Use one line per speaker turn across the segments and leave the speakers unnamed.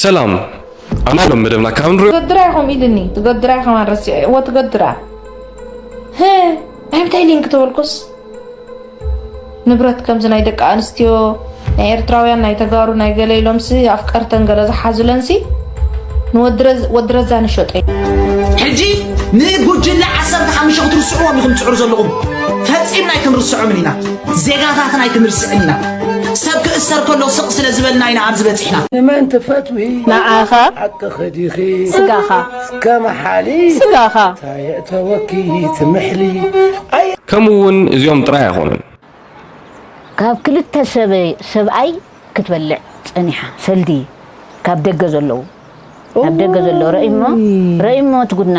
ሰላም ኣና ሎም መደብና ካብ ንሪኦ ትገድራ ኢኹም ኢልኒ
ትገድራ ኢኹም ኣረሲዐ እዎ ትገድራ ህ እንታይ ሊንክ ተበልኩስ ንብረት ከምዚ ናይ ደቂ ኣንስትዮ ናይ ኤርትራውያን ናይ ተጋሩ ናይ ገለ ኢሎምሲ ኣፍቀርተን ገለ ዝሓዙለንሲ ንወድረዛ ንሸጦ ሕጂ
ንጉጅለ ዓሰርተ ሓሙሽተ ክትርስዕዎም ኢኹም ትፅዕሩ ዘለኹም ፈፂምና ኣይክንርስዖምን ኢና ዜጋታትና ኣይክንርስዕን ኢና ሰብ ክእሰር ከሎ ስቕ ስለ ዝበልና ኢና ኣብዚ በፂሕና ንመን ትፈትዊ
ንዓኻ ሓቂ
ኸዲኺ
ስጋኻ እስከ
መሓሊ
ስጋኻ
ታየእተወኪ
ትምሕሊ ከምኡ እውን እዚኦም
ጥራይ ኣይኮኑን
ካብ ክልተ ሰብኣይ ክትበልዕ ፀኒሓ ሰልዲ ካብ ደገ ዘለዉ ካብ ደገ ዘለዉ ረእሞ ረእሞ ትጉድና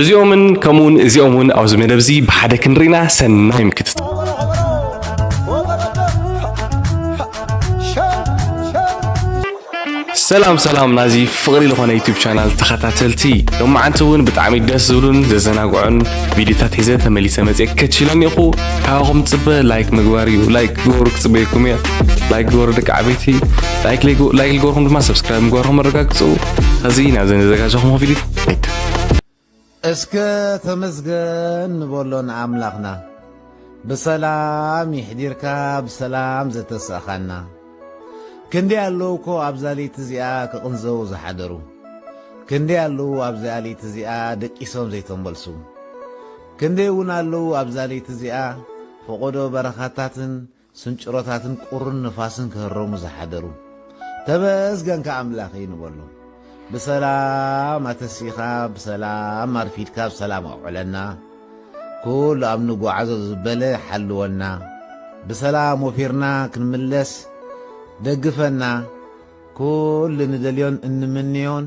እዚኦምን ከምኡውን እዚኦም እውን ኣብዚ መደብ እዚ ብሓደ ክንርኢና ሰናይ ምክትታል ሰላም ሰላም ናዚ ፍቕሪ ዝኾነ ዩቱብ ቻናል ተኸታተልቲ ሎማዓንቲ እውን ብጣዕሚ ደስ ዝብሉን ዘዘናግዑን ቪድዮታት ሒዘ ተመሊሰ መፅአ ከችለን ኢኹ ካባኹም ፅበ ላይክ ምግባር እዩ ላይክ ግበሩ ክፅበየኩም እየ ላይክ ግበሩ ደቂ ዓበይቲ ላይክ ልገርኩም ድማ ሰብስክራይብ ምግባርኩም ኣረጋግፁ ከዚ ናብዘ ዘዘጋጀኹም ቪድዮ ኣይትንፈር።
እስከ ተመስገን ንበሎ ንኣምላኽና ብሰላም ይሕዲርካ ብሰላም ዘተሰእኻና። ክንደይ ኣለዉ እኮ ኣብዛ ለይቲ እዚኣ ክቕንዘዉ ዝሓደሩ፣ ክንደይ ኣለዉ ኣብዚኣ ለይቲ እዚኣ ደቂሶም ዘይተመልሱ፣ ክንደይ እውን ኣለዉ ኣብዛ ለይቲ እዚኣ ፈቖዶ በረኻታትን ስንጭሮታትን ቁርን ንፋስን ክህረሙ ዝሓደሩ ተመስገንካ ኣምላኸይ ንበሎም ብሰላም ኣተሲእኻ ብሰላም ኣርፊድካ ብሰላም ኣውዕለና ኩሉ ኣብ ንጓዓዞ ዝበለ ሓልወና ብሰላም ወፊርና ክንምለስ ደግፈና ኩሉ ንደልዮን እንምንዮን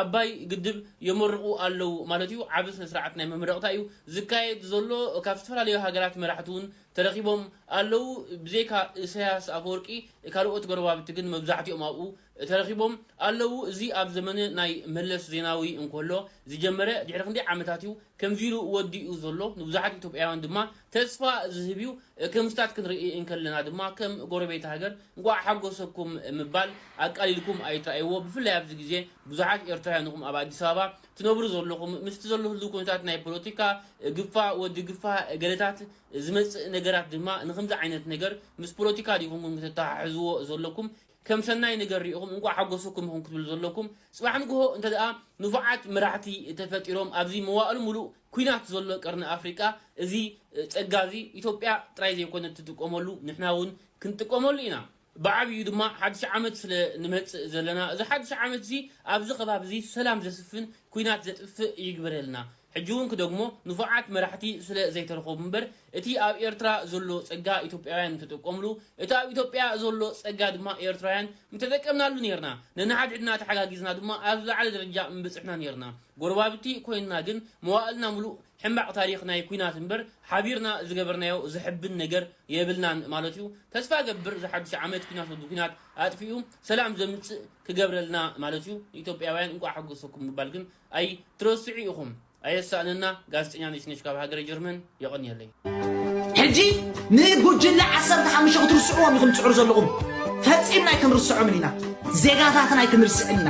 ኣባይ ግድብ የመርቑ ኣለዉ ማለት እዩ። ዓቢ ስነስርዓት ናይ መመረቕታ እዩ ዝካየድ ዘሎ። ካብ ዝተፈላለዩ ሃገራት መራሕቲ እውን ተረኺቦም ኣለዉ። ብዘይካ ኢሳያስ ኣፈወርቂ ካልኦት ጎረባብቲ ግን መብዛሕቲኦም ኣብኡ ተረኺቦም ኣለዉ። እዚ ኣብ ዘመነ ናይ መለስ ዜናዊ እንከሎ ዝጀመረ ድሕሪ ክንደይ ዓመታት እዩ ከምዚ ኢሉ ወዲኡ ዘሎ ንብዙሓት ኢትዮጵያውያን ድማ ተስፋ ዝህብ እዩ። ክምስታት ክንርኢ እንከለና ድማ ከም ጎረቤት ሃገር እንቋዕ ሓጎሰኩም ምባል ኣቃሊልኩም ኣይትርኣይዎ። ብፍላይ ኣብዚ ግዜ ብዙሓት ኤርትራውያን ኢኹም ኣብ ኣዲስ ኣበባ ትነብሩ ዘለኹም። ምስቲ ዘሎ ህልው ኩነታት ናይ ፖለቲካ ግፋ ወዲ ግፋ ገለታት ዝመጽእ ነገራት ድማ ንኸምዚ ዓይነት ነገር ምስ ፖለቲካ ዲኹም ከተተሓሕዝዎ ዘለኩም? ከም ሰናይ ነገር ሪኢኹም እንቋዕ ሓጎሰኩም ኢኹም ክትብሉ ዘለኩም። ጽባሕ ንግሆ እንተድኣ ንፉዓት መራሕቲ ተፈጢሮም ኣብዚ መዋእሉ ምሉእ ኩናት ዘሎ ቀርኒ ኣፍሪቃ እዚ ጸጋ እዚ ኢትዮጵያ ጥራይ ዘይኮነት ትጥቀመሉ ንሕና ውን ክንጥቀመሉ ኢና። ብዓቢኡ ድማ ሓድሽ ዓመት ስለ ንመጽእ ዘለና እዚ ሓድሽ ዓመት እዚ ኣብዚ ከባቢ እዚ ሰላም ዘስፍን ኩናት ዘጥፍእ ይግበረልና። ሕጂ ውን ክደግሞ ንፉዓት መራሕቲ ስለ ዘይተረኸቡ እምበር እቲ ኣብ ኤርትራ ዘሎ ጸጋ ኢትዮጵያውያን ምተጠቀምሉ እቲ ኣብ ኢትዮጵያ ዘሎ ጸጋ ድማ ኤርትራውያን ምተጠቀምናሉ ኔርና ነንሓድሕድና ተሓጋጊዝና ድማ ኣብ ዝለዓለ ደረጃ ምበጽሕና ኔርና ጎረባብቲ ኮይንና ግን መዋእልና ምሉእ ሕማቅ ታሪኽ ናይ ኩናት እምበር ሓቢርና ዝገበርናዮ ዘሕብን ነገር የብልናን ማለትዩ ተስፋ እገብር ዝሓዱሽ ዓመት ኩናት ወዲ ኩናት ኣጥፊኡ ሰላም ዘምጽእ ክገብረልና ማለትዩ ንኢትዮጵያውያን እንቋዕ ሓጎሰኩም ምባል ግን ኣይ ትረስዑ ኢኹም ኣየሳእነና ጋዜጠኛ ነሽነሽ ካብ ሃገረ ጀርመን የቐንየለይ። ሕጂ
ንጉጅለ ዓሰርተ ሓሙሽተ ክትርስዕዎም ኢኹም ትጽዕሩ ዘለኹም። ፈጺምና ኣይክንርስዖምን ኢና። ዜጋታትና ኣይክንርስዕን ኢና።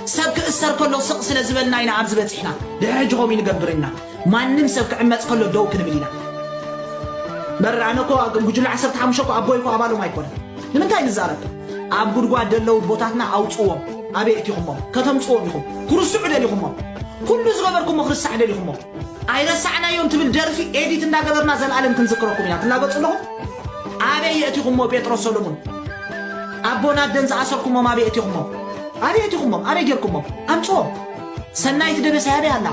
ሰብ ክእሰር ከሎ ስቕ ስለ ዝበልና ኢና ኣብዚ በጺሕና። ድሕሪ ሕጂ ከምኡ ኣይንገብርን ኢና። ማንም ሰብ ክዕመጽ ከሎ ደው ክንብል ኢና መር ኣነ እኮ ጉጅለ ዓሰርተ ሓሙሽተ እኮ ኣቦይ እኮ ኣባሎም ኣይኮነን ንምንታይ ንዛረብ ኣብ ጉድጓድ ደለዉ ቦታትና ኣውፅዎም ኣበይ እቲኹሞም ከተምፅዎም ኢኹም ክርስዑ ደሊኹሞም ኩሉ ዝገበርኩሞ ክርስዕ ደሊኹሞ ኣይረሳዕናዮም ትብል ደርፊ ኤዲት እንዳገበርና ዘለኣለም ክንዝክረኩም ኢና ትላገፁ ኣለኹም ኣበይ የእቲኹሞ ጴጥሮስ ሰሎሙን ኣቦና ደን ዝኣሰርኩሞም ኣበይ እቲኹሞም ኣበይ እቲኹሞም ኣበይ ጌርኩሞም ኣምፅዎም ሰናይት ደበሳ ያበይ ኣላ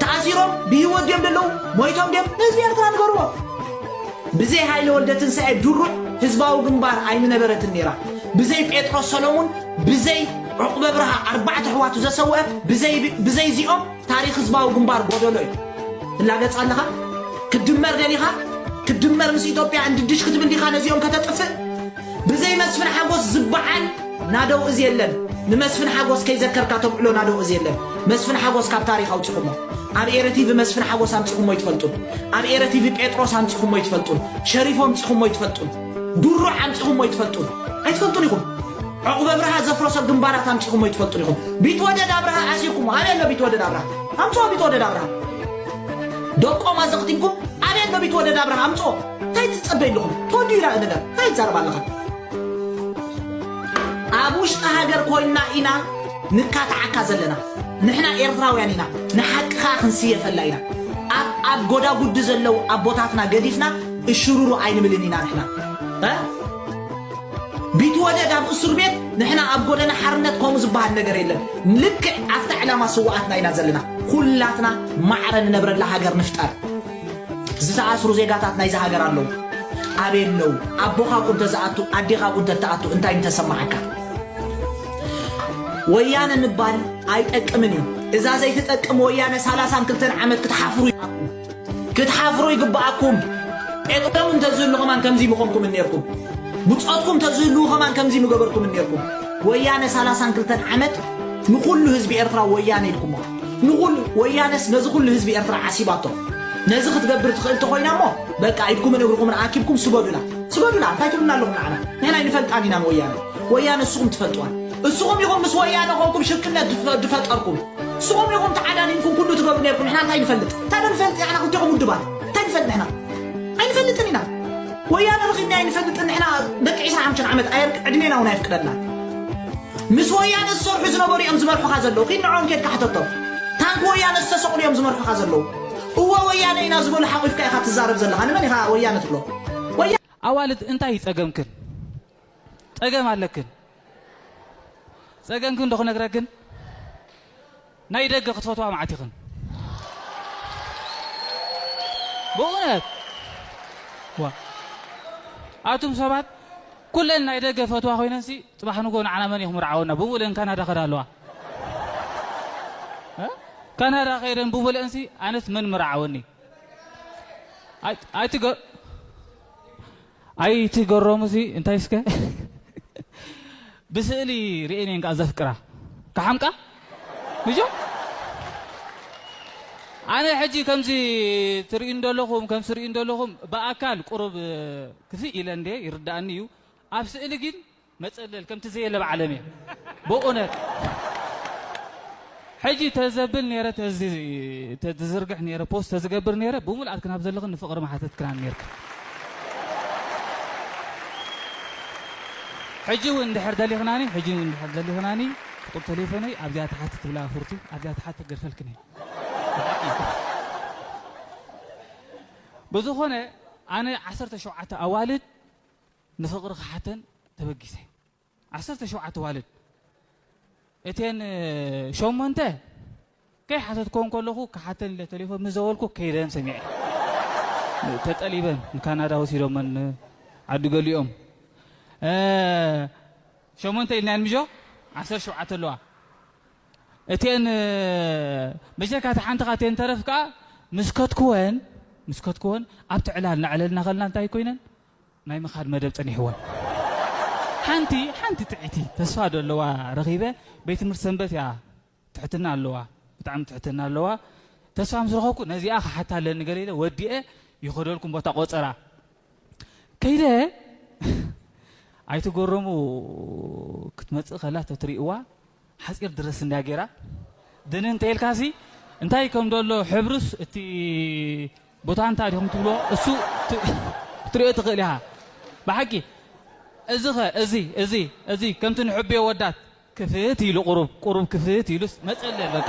ተኣሲሮም ብህይወት ድዮም ደለዉ ሞይቶም ድዮም ንህዝቢ ኤርትራ ንገርዎ ብዘይ ሃይለ ወልደ ትንሳኤ ድሩዕ ህዝባዊ ግንባር ኣይምነበረትን ነይራ ብዘይ ጴጥሮስ ሰሎሙን ብዘይ ዕቁበ ብርሃ ኣርባዕተ ኣሕዋቱ ዘሰውአ ብዘይ እዚኦም ታሪክ ህዝባዊ ግንባር ጎደሎ እዩ ትላገጽ ኣለኻ ክድመር ደሊኻ ክድመር ምስ ኢትዮጵያ እንድድሽ ክትብል ዲኻ ነዚኦም ከተጥፍእ ብዘይ መስፍን ሓጎስ ዝባሓል ናደው እዚ የለን ንመስፍን ሓጎስ ከይዘከርካ ተብዕሎ ናደው እዚ የለን መስፍን ሓጎስ ካብ ታሪክ ኣውጺኹሞ ኣብ ኤረ ቲቪ መስፍን ሓጎስ ኣምጺኹሞ ይትፈልጡን ኣብ ኤረ ቲቪ ጴጥሮስ ኣምጺኹሞ ይትፈልጡን ሸሪፎ ኣምጺኹሞ ይትፈልጡን ድሩዕ ኣምጺኹሞ ይትፈልጡን ኣይትፈልጡን ኢኹም ዕቑበ ብርሃ ዘፍረሶ ግንባራት ኣምጺኹሞ ይትፈልጡን ኢኹም ቢትወደድ ኣብርሃ ኣሲርኩሞ ኣበይ ኣሎ ቢትወደድ ኣብርሃ ኣምጽኦ ቢትወደድ ኣብርሃ ደቆም ኣዘኽቲምኩም ኣበይ ኣሎ ቢትወደድ ኣብርሃ ኣምጽኦ እንታይ ትጸበይ ኣለኹም ቶዲራ ነገር እንታይ ትዛረብ ኣለኻ ኣብ ውሽጢ ሃገር ኮይና ኢና ንካታዓካ ዘለና ንሕና ኤርትራውያን ኢና ንሓቂ ከዓ ክንስየፈላ ኢና ኣብ ኣብ ጎዳጉዲ ዘለው ኣቦታትና ገዲፍና እሽሩሩ ኣይንብልን ኢና ንሕና እ? ቢትወደድ ኣብ እሱር ቤት ንሕና ኣብ ጎደና ሓርነት ከምኡ ዝበሃል ነገር የለን ልክዕ ኣብታ ዕላማ ስዋኣትና ኢና ዘለና ኩላትና ማዕረ ንነብረላ ሃገር ንፍጠር ዝተኣስሩ ዜጋታት ናይዛ ሃገር ኣለዉ። ኣበይ ኣለዉ? ኣቦኻ እኮ እንተዝኣቱ ኣዴኻ እኮ እንተትኣቱ እንታይ ምተሰማዓካ? ወያነ ምባል ኣይጠቅምን እዩ። እዛ ዘይትጠቅም ወያነ ሰላሳን ክልተን ዓመት ክትሓፍሩ ይግባኣኩም። ክትሓፍሩ ይግባኣኩም። ኤጥሎም እንተዝህሉ ከማን ከምዚ ምኾንኩም እኔርኩም። ብጾትኩም ተዝህልዉ ከማን ከምዚ ምገበርኩም እኔርኩም። ወያነ ሰላሳን ክልተን ዓመት ንኹሉ ህዝቢ ኤርትራ ወያነ ኢልኩሞ። ንኹሉ ወያነስ ነዚ ኩሉ ህዝቢ ኤርትራ ዓሲባቶ ነዚ ክትገብር ትኽእል ተኾይና እሞ በቃ ኢድኩምን እግርኹምን ኣኪብኩም ስገዱላ ስገዱላ እንታይ ትብሉና ኣለኹም ንዓና ንሕና ኣይንፈልጣን ኢና ንወያነ ወያነ ንስኹም ትፈልጥዋን እስኹም ኢኹም ምስ ወያነ ኮንኩም ሽርክነት ድፈ- ድፈጠርኩም እስኹም ኢኹም ተዓዳዲምኩም ኩሉ ትገብሩ ነርኩም ንሕና እንታይ ንፈልጥ እንታይ ዶ ንፈልጥ ንሕና ክልቲኹም ውድባት እንታይ ንፈልጥ ንሕና ኣይንፈልጥን ኢና ወያነ ረኺብና ኣይንፈልጥን ንሕና ደቂ 25 ዓመት ኣየርክ ዕድሜና እውን ኣየፍቅደልና ምስ ወያነ ዝሰርሑ ዝነበሩ እዮም ዝመርሑኻ ዘለዉ ኪድ ንዕኦም ኬድካ ሕተቶም ታንኪ ወያነ ዝተሰቕሉ እዮም ዝመርሑኻ ዘለዉ እወ ወያነ ኢና ዝበሉ ሓቑፍካ ኢኻ ትዛረብ ዘለኻ ንመን ኢኻ ወያነ ትብሎ ወያ ኣዋልድ
እንታይ እዩ ጸገምክን? ጸገም ኣለክን ጸገምክን ዶ ክነግረክን? ናይ ደገ ክትፈትዋ መዓት ኢኽን ብእውነት ዋ ኣቱም ሰባት ኩለን ናይ ደገ ፈትዋ ኮይነንሲ ፅባሕ ንጎ ንዓና መን ኢኹም ርዓወና ብብኡለን ካናዳ ከዳ ኣለዋ ካናዳ ከይደን ብብለእንሲ ኣነስ መን ምርዓወኒ ኣይትገ ኣይ እቲ ገሮሙ እዚ እንታይ እስከ ብስእሊ ርኤን እየን ከኣ ዘፍቅራ ክሓምቃ ንጆ ኣነ ሕጂ ከምዚ ትርእዩ እንደለኹም ከም ስርእዩ እንደለኹም ብኣካል ቁሩብ ክፍእ ኢለ እንደ ይርዳእኒ እዩ ኣብ ስእሊ ግን መጸለል ከምቲ ዘየለ ኣብ ዓለም እየ ብኡነት ሕጂ ተዘብል ነረ ተዚ ተዝርግሕ ነረ ፖስት ተዝገብር ነረ ብሙልኣት ክናብ ዘለኽን ንፍቕሪ መሓተት ክናን ነርክ ሕጂ እውን እንድሕር ደሊኽናኒ ሕጂ እውን እንድሕር ደሊኽናኒ ቁጥር ተሌፎነይ ኣብዚኣ ተሓቲ ትብላ ፍርቱ ኣብዚኣ ተሓቲ ገርፈልክን ብዝኾነ ኣነ ዓሰርተ ሸውዓተ ኣዋልድ ንፍቕሪ ክሓተን ተበጊሰ። ዓሰርተ ሸውዓተ ኣዋልድ እተን ሸሞንተ ከይሓተትክወን ከለኹ ክሓተን ኢለ ተሌፎን ምስ ደወልኩ ከይደን ሰሚዐ። ተጠሊበን ንካናዳ ወሲዶመን ዓዲ ገሊኦም ሸሞንተ ኢልናየን ምጆ ዓሰርተ ሸውዓተ ኣለዋ። እተን መጀካ እታ ሓንቲ ካብተን ተረፍ ከኣ ምስ ከትክወን ምስ ከትክወን ኣብቲ ዕላል እናዕለልና ከለና እንታይ ኮይነን ናይ ምኻድ መደብ ጸኒሕወን ሓንቲ ሓንቲ ጥዕይቲ ተስፋ ዶ ኣለዋ ረኺበ ቤት ትምህርቲ ሰንበት እያ ትሕትና ኣለዋ ብጣዕሚ ትሕትና ኣለዋ ተስፋ ምስ ረኸብኩ ነዚኣ ክሓታ ኣለኒ ገለ ኢለ ወዲኤ ይኸደልኩም ቦታ ቆጸራ ከይደ ኣይትገረሙ ክትመጽእ ከላ ተትሪእዋ ሓጺር ድረስ እንድያ ጌራ ድንን እንተኢልካሲ እንታይ ከም ደሎ ሕብርስ እቲ ቦታ እንታይ ዲኹም ትብሎ እሱ ክትሪኦ ትኽእል ኢኻ ብሓቂ እዚ ኸ እዚ እዚ እዚ ከምቲ ንሕብዮ ወዳት ክፍት ኢሉ ቁሩብ ቁሩብ ክፍት ኢሉስ መጸለል በቃ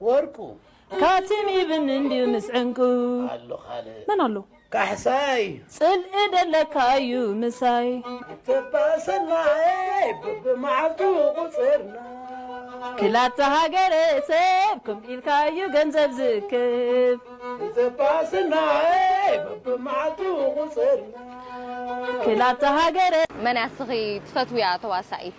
ወርቁ።
ካቲም
ይብን እንድዩ ምስ ዕንቁ። ኣሎ ካልእ።
መን ኣሎ።
ካሕሳይ።
ጽልኢ
ደለካ'ዩ ምሳይ። ተባዕ
ሰናይ በብመዓልቱ ቁጽርና።
ክላተ ሃገረ ሰብ ከምኡ ኢልካ'ዩ ገንዘብ ዝእክብ። ተባዕ
ሰናይ በብመዓልቱ ቁጽርና።
ክላተ ሃገረ። መን እያ እስኺ
ትፈትውያ ተዋሳኢት?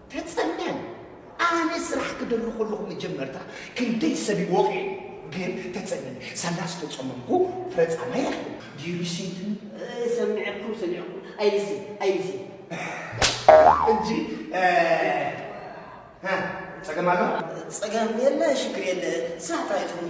ተጸልለን ኣነ ስራሕ ክደሊ ከለኹ መጀመርታ ክንደይ ሰብ እዩ ወቒዑ ግን ተጸልለን ሳላ ዝተጸመምኩ ፍረ ጻማይ ረኺቡ ዲሪሲትን ሰሚዐኩም ሰሚዐኩም ኣይልሲ ኣይልሲ
እንጂ እ፣ እ፣ ጸገም ኣሎ ጸገም
የለ ሽግር የለ ስራሕ ጥራይ ትኹኑ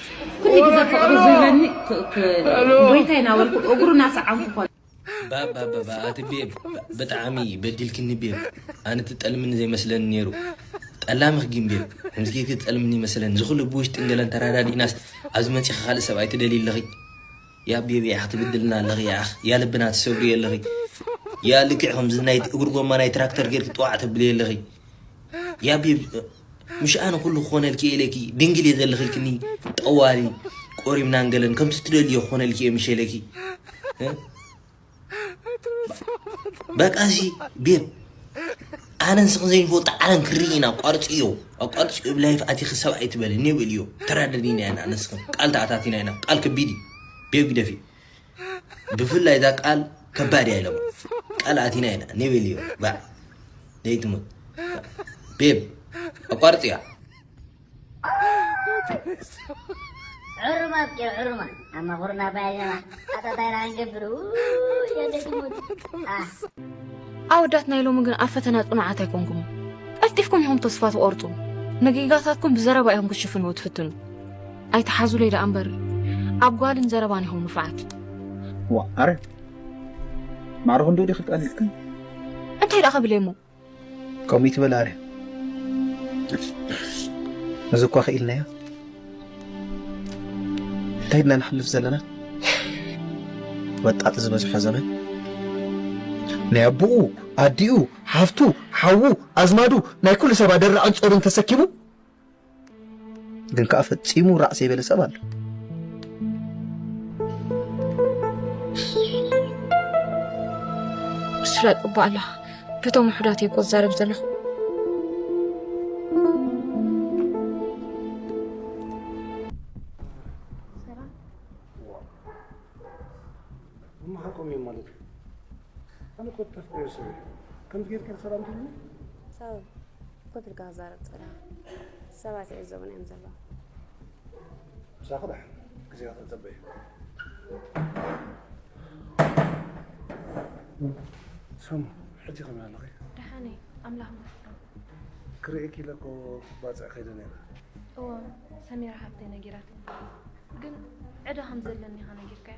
ኩሉ ግዜ ፍቅሪ ዝህበኒ ጎይታይ ናበልኩ እግሩ ናሰዓምኩ ኮነ ባባባባ
ኣቲ ቤብ ብጣዕሚ በዲልክኒ ቤብ ኣነ ትጠልምኒ ዘይመስለኒ ነይሩ ጠላምኽ ግን ቤብ ከምዚ ጌርኪ ትጠልምኒ ይመስለኒ እዚ ኩሉ ብውሽጢን ገለን ተራዳዲእናስ ኣብዚ መፂኺ ካልእ ሰብኣይ ትደልይ ኣለኺ ያ ቤብ ያዕኽ ትብድልና ኣለኺ ያዕኽ ያ ልብና ትሰብሪ ኣለኺ ያ ልክዕ ከምዚ ናይ እግሪ ጎማ ናይ ትራክተር ጌርኪ ጥዋዕ ተብልየ ኣለኺ ያ ቤብ ምሽ ኣነ ኩሉ ክኾነልኪ ኢለኪ ድንግል እየ ዘልኽልክኒ ጠዋሪ ቆሪምናን ገለን ከምቲ ትደልዮ ክኾነልኪ እየ ምሽ ኢለኪ በቃ ሲ ቤብ ኣነን ስኽን ዘይንፈልጦ ዓለም ክርኢ ኢና ኣቋርፅዮ ኣቋርፅዮ ብ ላይፍ ኣቲኺ ሰብ ኣይትበሊ ኔብል እዮ ተራደዲና ኢና ኣነስኽን ቃል ተኣታቲና ኢና ቃል ከቢድ እዩ ቤብ ግደፊ ብፍላይ እዛ ቃል ከባድ እያ ኢሎም ቃል ኣቲና ኢና ኒብል እዩ ባዕ ዘይትሙት ቤብ ኣቋርፅ እያ
ዑሩማት ጌር ዑሩማ ኣማኹርና ባይለና ኣታታይና ክንገብር ኣወዳት
ናይ ሎሚ ግን ኣብ ፈተና ጽኑዓት ኣይኮንኩም ቀልጢፍኩም ኢኹም ተስፋ ትቆርጹ ንጌጋታትኩም ብዘረባ ኢኹም ክትሽፍንዎ ትፍትኑ ኣይትሓዙለይ ደኣ እምበር ኣብ ጓልን ዘረባን ኢኹም ንፉዓት። እዋ ኣረ
ማዕረ ክንድኡ ዲኺ ቀኒዕክን እንታይ ደኣ
ከብለይ እሞ ከምኡ
ይትበል ኣረ እዚ እኳ ክኢልናዮ እንታይ ድና ንሕልፍ ዘለና ወጣጥ ዝበዝሖ ዘመን ናይ ኣቦኡ ኣዲኡ ሓፍቱ ሓዉ ኣዝማዱ ናይ ኩሉ ሰብ ኣደራዕን ጾርን ተሰኪሙ ግን ከዓ ፈፂሙ ራዕ ዘይበለ ሰብ ኣሎ
ስለ ቅባላ በቶም ውሑዳት እየ እኮ ዝዛረብ
ዘለኹ
ኮፍ ኢልካ ክዛረብ ጸላም ሰባት ይዕዘቡና እዮም ዘለዉ። ምሳኺ ደሓን
ግዜኻ ክንጽበ እዩ። ሰሙ ሕጂ ከመይ ኣለኺ? ደሓን እየ ኣምላኽ
ይመስገን።
ክርእየኪ ኢለ እኮ ባጽዕ ከይደ ነይረ። እወ
ሰሚራ ሓብተይ ነጊራትኒ፣ ግን ዕዳ ከም ዘለኒ ኢኻ ነጊርካያ።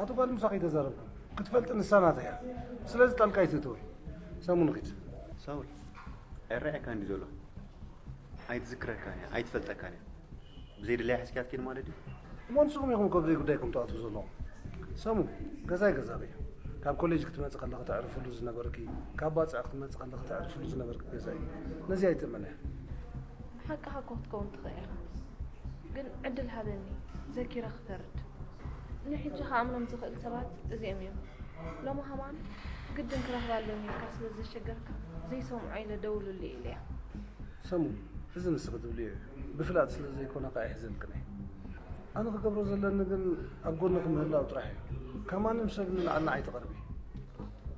ኣቲ ጓል ምሳኺ
ተዛረብኩ ክትፈልጢ ንሳ ናተይ እያ ስለዚ ጣልቃ ኣይትእተዊ ሳሙ ንኺድ ሳውል
ኣይረኣየካን ድዩ ዘሎ ኣይትዝክረካን እያ ኣይትፈልጠካን እያ ብዘይ ድላይ ሕዝክያ ትኪድ ማለት እዩ እሞ ንስኹም ኢኹም ከብዘይ
ጉዳይኩም ትኣትዉ ዘለኹም ሰሙ ገዛይ ገዛብ እዩ ካብ ኮሌጅ ክትመፅእ ከለኺ ተዕርፍሉ ዝነበርኪ ካብ ባፅዕ ክትመፅእ ከለኺ ተዕርፍሉ ዝነበርኪ ገዛ እዩ ነዚ ኣይትእመነ ሓቅኻ
እኮ ክትከውን ትኽእል ኢኻ ግን ዕድል ሃበኒ ዘኪረ ክፈርድ ንሕጂ ክኣምኖም ዝኽእል ሰባት እዚኦም እዮም። ሎሚ ከማን ግድን ክረኽባ ኣለኒ ኢልካ ስለ ዘሸገርካ ዘይሰምዖ ኢለ ደውሉለይ ኢለያ። ሰሙ
እዚ ንስኺ ትብልዮ እዩ፣ ብፍላጥ ስለ ዘይኮነ ከኣ ኣይሕዘልክን'የ። ኣነ ክገብሮ ዘለኒ ግን ኣብ ጎንኺ ምህላው ጥራሕ እዩ። ካብ ማንም ሰብ ንላዕሊ ንዓይ ትቐርቢ።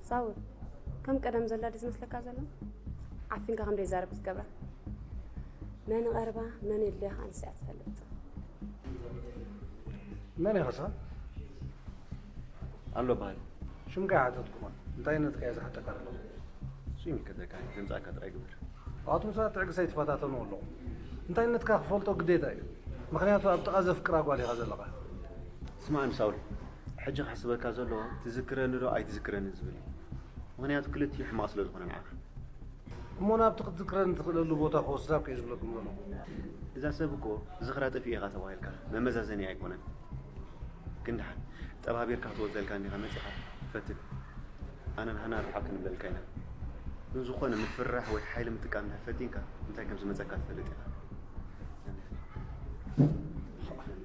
ሳውል
ከም ቀደም ዘላ ድዩ ዝመስለካ ዘሎ? ዓፊንካ ከም ዘይዛረብ ክትገብራ መን ይቐርባ መን የድልያ ከኣ ንሳ እያ ትፈልጥ።
መን ኢኻ ሰ ኣሎ
በሃሊ ሽምካ ይሓተትኩኻ
እንታይነትካ እየ ዝሓተካ ኣለኹ እሱ
ይምልከተካ ድምፃካ ጥራይ ግበር ኣብቲ ምሳት
ትዕግሳ ይትፈታተኑ ኣለኹ እንታይነትካ ክፈልጦ ግዴታ እዩ ምክንያቱ ኣብ ጥቓ ዘፍቅራ ጓል ኢኻ ዘለኻ ስማዕኒ
ሳውል ሕጂ ክሕስበካ ዘለዎ ትዝክረኒ ዶ ኣይትዝክረኒ ዝብል እዩ ምክንያቱ ክልቲኡ ሕማቕ ስለ ዝኾነ ንዓኻ እሞ
ናብቲ ክትዝክረኒ ትኽእለሉ ቦታ ክወስዳኩ እየ ዝብለኩም ዘለኹ። እዛ ሰብ
እኮ ዝኽራ ጠፊኡ ኢኻ ተባሂልካ መመዛዘኒ ኣይኮነን። ግን ደሓን ጠባቢርካ ክትወፀልካ እንዲኻ መፂኻ ፈትን ኣነ ንሃና ርሓቕ ክንብለልካ ኢና። ግን ዝኾነ ምፍርራሕ ወይ ሓይሊ ምጥቃም እንድሕር ፈቲንካ እንታይ ከምዝመፀካ ትፈልጥ ኢኻ።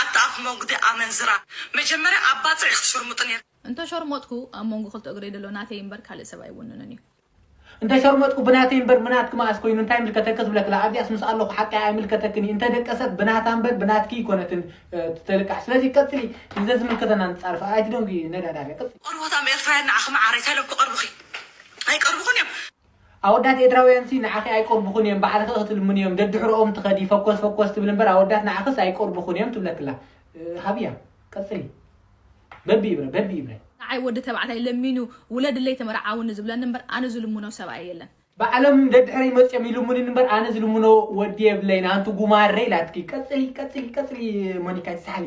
ኣታ ኣፍ
መጉዲ ኣመንዝራ መጀመርያ ኣብ ባጽዕ ኢኪ ትሽርሙጢ ኔርኪ። እንተ ሾርሞጥኩ
ኣብ መንጎ ክልተ እግረይ ደሎ ናተይ እምበር ካልእ ሰብ ኣይውንንን እዩ። እንተ
ሸርሞጥኩ ብናተይ እምበር ብናትኪ መኣስ ኮይኑ እንታይ ይምልከተኪ ዝብለክላ ኣብዚኣስ ምስ ኣለኩ ሓቀይ ኣይምልከተክን እዩ እንተ ደቀሰት ብናታ እምበር ብናትኪ እይኮነትን ትልቃሕ ስለዚ ቀጽሊ ንዘዝምልከተና ንጻረፍ ኣይትደንጉዪ ነዳዳርያ ቀጽሊ። ቆርቦታም ኤርትራውያን ንዓኺ
መዓረይ ተለኩ ቀርቡኺ ኣይቀርቡኹን እዮም። ኣወዳት
ኤድራውያንሲ ንዓኺ ኣይቆርቡኹን እዮም ባዕልኺ እኺ ትልምኒ እዮም ደድሕሮኦም ትኸዲ ፈኮስ ፈኮስ ትብሊ እምበር ኣወዳት ንዓኽስ ኣይቆርቡኹን እዮም ትብለክላ ሃብያ ቀጽሊ በቢ ይብረ በቢ ይብረ ንዓይ ወዲ ተባዕታይ
ለሚኑ ውለድለይ ተመርዓውኒ ዝብለኒ እምበር ኣነ ዝልምኖ ሰብኣይ የለን። ባዕሎም ደድሕረይ
መጽዮም ይልሙንኒ እምበር ኣነ ዝልምኖ ወዲ የብለይን ኣንቲ ጉማረ ኢላትኪ ቀጽሊ ቀጽሊ ቀጽሊ ሞኒካይ ሳሕሊ።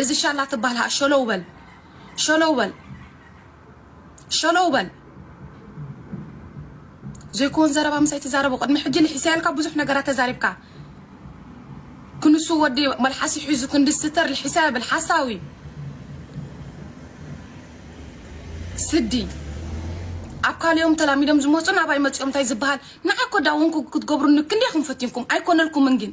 እዚ ሻላ ትባሃል ከኣ ሸሎው በል ሸሎው በል ሸሎው በል ዘይኮን ዘረባ ምሳይ ትዛረቦ ቅድሚ ሕጂ ልሒሰያልካ ብዙሕ ነገራት ተዛሪብካ ክንሱ ወዲ መልሓሲ ሒዙ ክንዲ ስተር ልሒሰያ ብል ሓሳዊ ስዲ ኣብ ካልኦም ተላሚዶም ዝመፁን ኣባይ መፂኦም እንታይ ዝበሃል ንዓኮ ዳውንኩ ክትገብሩኒ ክንደይ ኢኹም ፈቲንኩም ኣይኮነልኩምን ግን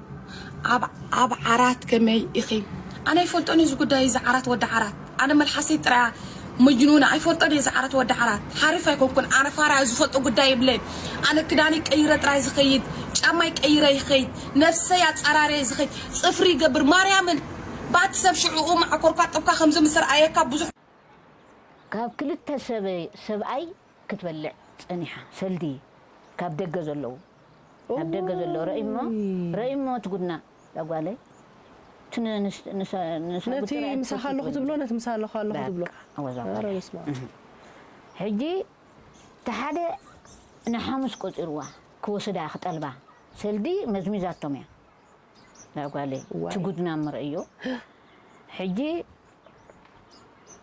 ኣብ ዓራት ከመይ ኢኺ? ኣነ ኣይፈልጦን እየ እዚ ጉዳይ እዚ ዓራት ወዲ ዓራት ኣነ መልሓሰይ ጥራያ መጅኑና ኣይፈልጦን እየ እዚ ዓራት ወዲ ዓራት ሓሪፍ ኣይኮንኩን ኣነ ፋራ ዝፈልጦ ጉዳይ የብለይን ኣነ ክዳነይ ቀይረ ጥራይ ዝኸይድ ጫማይ ቀይረ ይኸይድ ነፍሰይ ኣጻራርየ ዝኸይድ ጽፍሪ ይገብር ማርያምን ባት ሰብ ሽዑኡ ማዕኮርካ ጥብካ ከምዚ ምስ ርኣየካ ብዙሕ ካብ
ክልተ ሰበይ ሰብኣይ ክትበልዕ ጸኒሓ ሰልዲ ካብ ደገ ዘለዉ ኣብ ደገ ዘሎ ረኢሞ ረኢሞ እቲ ጉድና እዛ ጓለይ
እቲ ነቲ ምሳኻ ኣለኹ ትብሎ ነቲ ምሳኻ ኣለኹ ትብሎ
ሕጂ እቲ ሓደ ንሓሙስ ቆጺርዋ ክወስዳ ክጠልባ ሰልዲ መዝሚዛቶም እያ እዛ ጓለይ እቲ ጉድና እሞ ረኢዮ ሕጂ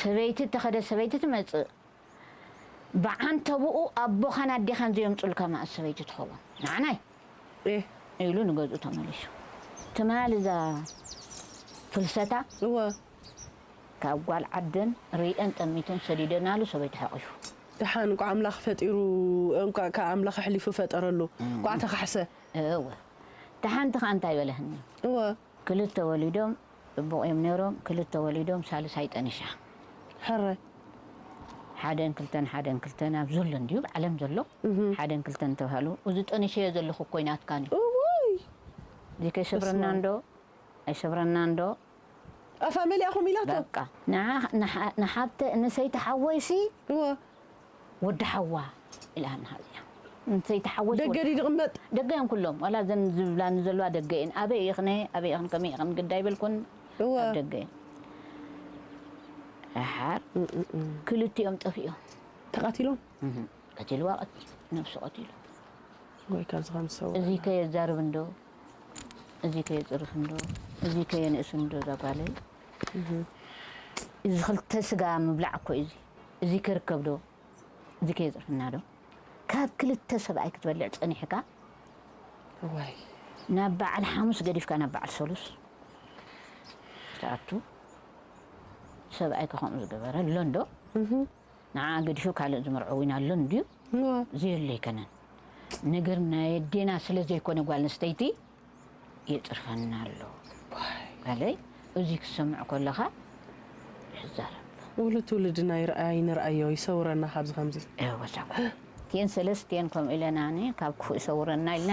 ሰበይቲ እተኸደት ሰበይቲ ትመጽእ። ብዓንተብኡ ኣቦኻን ኣዴኻን ዘየምጹልካ መኣስ ሰበይቲ ትኸውን? ንዓናይ! እህ! ኢሉ ንገዝኡ ተመሊሱ። ትማል እዛ ፍልሰታ እወ!
ካብ
ጓል ዓደን ርእየን ጠሚተን ሰዲደናሉ ሰበይቲ ሓቚፉ። ደሓን እንቋዕ ኣምላኽ
ፈጢሩ እንቋዕ ከኣ ኣምላኽ ኣሕሊፉ ፈጠረሉ። እንቋዕ ተኻሕሰ! እወ!
እታ ሓንቲ ከኣ እንታይ በለትኒ? እወ! ክልተ ወሊዶም ጽቡቅ እዮም ነይሮም ክልተ ወሊዶም ሳልሳይ ጠኒሳ ሕረ ሓደን ክልተን ሓደን ክልተን ኣብ ዘሎ እንድዩ ኣብ ዓለም ዘሎ ሓደን ክልተን ተባሃሉ እዚ ጠኒሰዮ ዘለኹ እኮይ ናትካ እንድዩ
እዚ
ከይሰብረና እንዶ ኣይሰብረና እንዶ ኣፋ
መሊኣኹም ኢላቶ በቃ
ንሓብተ ንሰይቲ ሓወይሲ
ወዲ
ሓዋ ኢላ ሃብናሃ እዚኣ እንተይተሓወስ ወዲ ደገ ድዩ ድቅመጥ? ደገ
እዮም ኩሎም ዋላ
እዘን ዝብላኒ ዘለዋ ደገ እየን ኣበይ ኢኽነ ኣበይ ኢኽን ከመይ ኢኽን ግዲ ኣይበልኩን እወ ኣብ ደገ
እየን
ደሓር ክልቲኦም ጠፊኦም ተቃቲሎም
እህ ቀቲልዋ
ቀቲሉ ነብሱ ቀቲሉ ወይ
ካብዚ ከም ዝሰውር እዚ ከየዛርብ እንዶ
እዚ ከየፅርፍ እንዶ እዚ ከየንእስ እንዶ እዛ ጓለይ እዚ ክልተ ስጋ ምብላዕ እኮ እዩ እዚ እዚ ክርከብ ዶ እዚ ከየጽርፈና ዶ ካብ ክልተ ሰብኣይ ክትበልዕ ጸኒሕካ
እዋይ ናብ
በዓል ሓሙስ ገዲፍካ ናብ በዓል ሰሉስ ትኣቱ ሰብኣይ ከምኡ ዝገበረ ኣሎ እንዶ ንዓ ገዲፉ ካልእ ዝምርዖ ዊን ኣሎ እንድዩ ዘየሎ ኣይከነን ነገር ናይ ኣዴና ስለ ዘይኮነ ጓል ኣንስተይቲ የጽርፈና ኣሎ በለይ እዙይ ክትሰምዕ ኮለኻ ይዛረብ። ውሉድ
ትውልድና ይርኣ ይንርኣዮ ይሰውረና ካብዚ ከምዚ። እወ ሳጓ
እቲኤን ሰለስቲኤን ከምኡ ኢለና ን ካብ ክፉእ ይሰውረና ኢልና።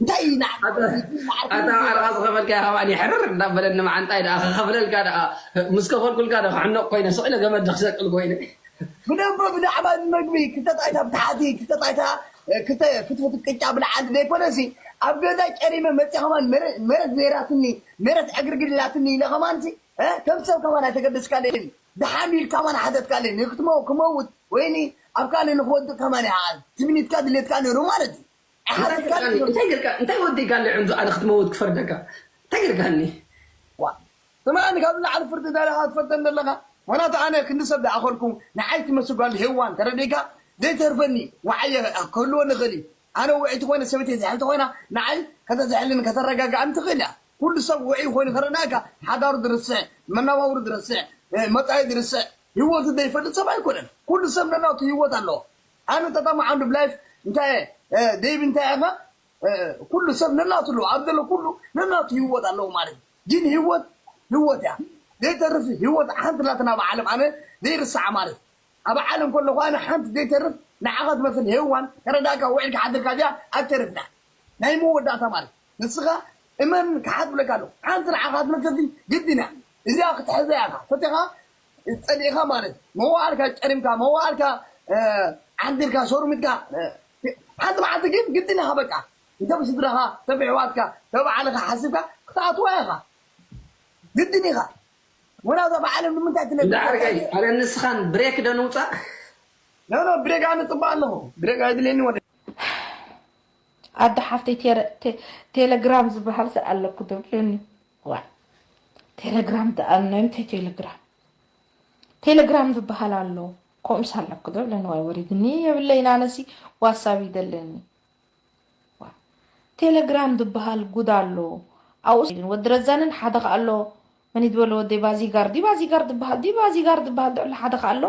እንታይ እዩ ናዓካ ኣታ ወዲትኒ ማዓርገይ ኣታ ምስ
ዓርቃ ዝወደኣ ዝኸፈልካያ ከማን ሕርር እንዳበለኒ ማዓንጣይ ዳኣ ክኸፍለልካ ዳኣ ምስ ከፈልኩልካ ዶ ክሕነቅ ኮይነ ስቅ ኢለ ገመድ ዶ ክሰቅል ኮይነ። ብደቦ
ብዛዕባ እዚ መግቢ ክልተ ጣይታ ብታሕቲ ክልተ ጣይታ ክልተ ፍትፍት ቅጫ ብላዕሊ ዘይኮነሲ ኣብ ገዛይ ጨሪመ መጺኣ ከማን ሜረት ዘይራትኒ ሜረት ዕግርግር ኢላትኒ ኢለ ከማንሲ ከም ሰብ ከማን ኣይተገደስካለይን ዳሓን ኢልካ ከማን ሓተትካለይ ንክትመው ክመውት ወይኒ ኣብ ካልእ ንክወድቅ ከማን ይዓል ትምኒትካ ድሌትካ ነሩ ማለት እዩ እንታይ ትርቃኒ እንታይ
ጌርካ እንታይ ወዲካ ኣሎ ዕንዙ ኣነ ክትመውት ክፈርደካ እንታይ ጌርካኒ። ዋእ
ስማዓኒ ካብ ንላዕሊ ፍርዲ ደሊካ ትፈርደኒ ደለካ ምክንያቱ ኣነ ክንዲ ሰብ ዳኣ ኮንኩ ንዓይ ትመስል ጋል ሄዋን ተረዲእካ ዘይተርፈኒ ዋዓይ ክህልወኒ ይክእል እዩ ኣነ ውዕይቲ ኮይነ ሰበይተይ ዝሕል ተኮይና ንዓይ ከተዝሕለኒ ከተረጋጋኣኒ ትክእል እያ ኩሉ ሰብ ውዕይ ኮይኑ ከረዳኣካ ሓዳሩ ድርስዕ መናባብሩ ድርስዕ መጻኢ ድርስዕ ሂወቱ ዘይፈልጥ ሰብ ኣይኮነን ኩሉ ሰብ ነናቱ ሂወት ኣለዎ ኣነ ተጠማዕ ኣንድ ብላይፍ እንታይ እየ ደይብ እንታይ ኢካ ኩሉ ሰብ ነናቱ ኣለዎ ኣብ ዘሎ ኩሉ ነናቱ ሂወት ኣለዎ ማለት እዩ ጊን ሂወት ሂወት እያ ዘይተርፍ ሂወት ሓንቲ ኣላትና ኣብ ዓለም ኣነ ዘይርሳዓ ማለት እዩ ኣብ ዓለም ከለኩ ኣነ ሓንቲ ዘይተርፍ ንዓካ ትመስል ሄዋን ተረዳእካ ውዒልካ ሓድርካ እዚኣ ኣትተርፍን እያ ናይ መወዳእታ ማለት እዩ ንስኻ እመን ክሓትብለካ ኣለኹ ሓንቲ ንዓኻ ትምልከቲ ግድን እያ እዚኣ ክትሕዛ ኢኻ ፈቲኻ ጸሊእኻ ማለት መዋእልካ ጨሪምካ መዋእልካ ዓንዲርካ ሸሩሚትካ ሓንቲ መዓልቲ ግን ግድን ኢኻ በቃ እንተ ብስድራኻ እንተ ብሕዋትካ እንተ ባዕልኻ ሓሲብካ ክትኣትዋ ኢኻ ግድን ኢኻ ወላ እዛ ብዓለም ንምንታይ ትነብር ኣነ
ንስኻን ብሬክ ዶ ንውጻእ ኖ
ኖ ብሬክ ኣነ ጽባእ ኣለኹ ብሬክ ኣይድልየኒ ወደ
ኣደ ሓፍተይ ቴረ ቴ ቴለግራም ዝበሃል ሰ ኣለኩ ዶ ኢሉኒ ዋይ ቴለግራም ደኣኖ እንታይ ቴለግራም ቴለግራም ዝበሃል ኣሎ ከምኡስ ኣለኩ ዶ ኢሉኒ ዋይ ወሪድኒ የብለይን ኣነሲ ዋሳብ ይደለኒ ዋይ ቴለግራም ዝበሃል ጉድ ኣሎ ኣብኡስ ወዲ ረዛንን ሓደ ከኣ ኣሎ መን ዝበለዎ ዲባ ዚጋር ዲባ ዚጋር ዝበሃል ዲባ ዚጋር ዝበሃል ድዕሊ ሓደ ከ ኣሎ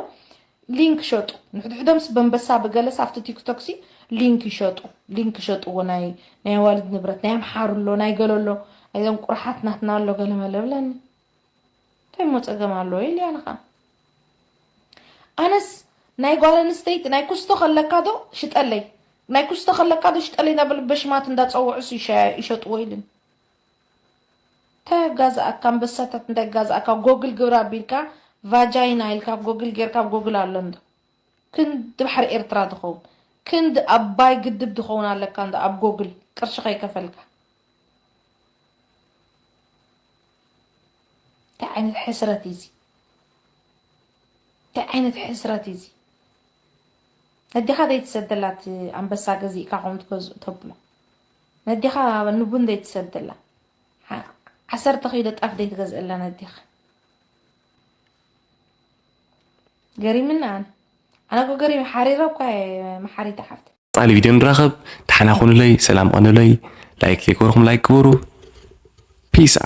ሊንክ ሸጡ ንሕድሕዶምስ በንበሳ ብገለስ ኣብቲ ቲክቶክሲ ሊንክ ይሸጡ ሊንክ ይሸጥዎ ናይ ናይ ኣዋልድ ንብረት ናይ ኣምሓሩ ኣሎ ናይ ገሎ ኣሎ ናይዞም ቁርሓት ናትና ኣሎ ገለመለ ብለኒ እንታይ ሞ ፀገም ኣለዎ ኢልያ ንኻ ኣነስ ናይ ጓል ኣንስተይቲ ናይ ኩስቶ ከለካ ዶ ሽጠለይ ናይ ኩስቶ ከለካ ዶ ሽጠለይ ናበል በሽማት እንዳፀውዑስ ይሸጥዎ ኢልን እንታይ ኣጋዝኣካ ኣንበሳታት እንታይ ጋዝኣካ ጎግል ግብራ ኣቢልካ ቫጃይና ኢልካ ጎግል ጌርካ ጎግል ኣሎ እንዶ ክንዲ ባሕሪ ኤርትራ ድከውን ክንዲ ኣባይ ግድብ ድከውን ኣለካ እንዶ ኣብ ጎግል ቅርሺ ከይከፈልካ እንታይ ዓይነት ሕስረት እዩ እዚ እንታይ ዓይነት ሕስረት እዩ እዚ ነዲኻ ዘይትሰደላት ኣንበሳ ገዚእካ ከምኡ ትገዝኡ ተብሎ ነዴኻ ንቡን ዘይትሰድላ ዓሰርተ ኪሎ ጣፍ ዘይትገዝእላ ነዴኻ ገሪምኒ ኣነ ኣነ እኮ ገሪም ሓሪረ እኳ መሓሪት ሓፍት ጻሊ ቪድዮ ንራኸብ
ዳሕና ኩኑለይ ሰላም ቐኑለይ ላይክ ዘይገበርኩም ላይክ ግበሩ ፒስ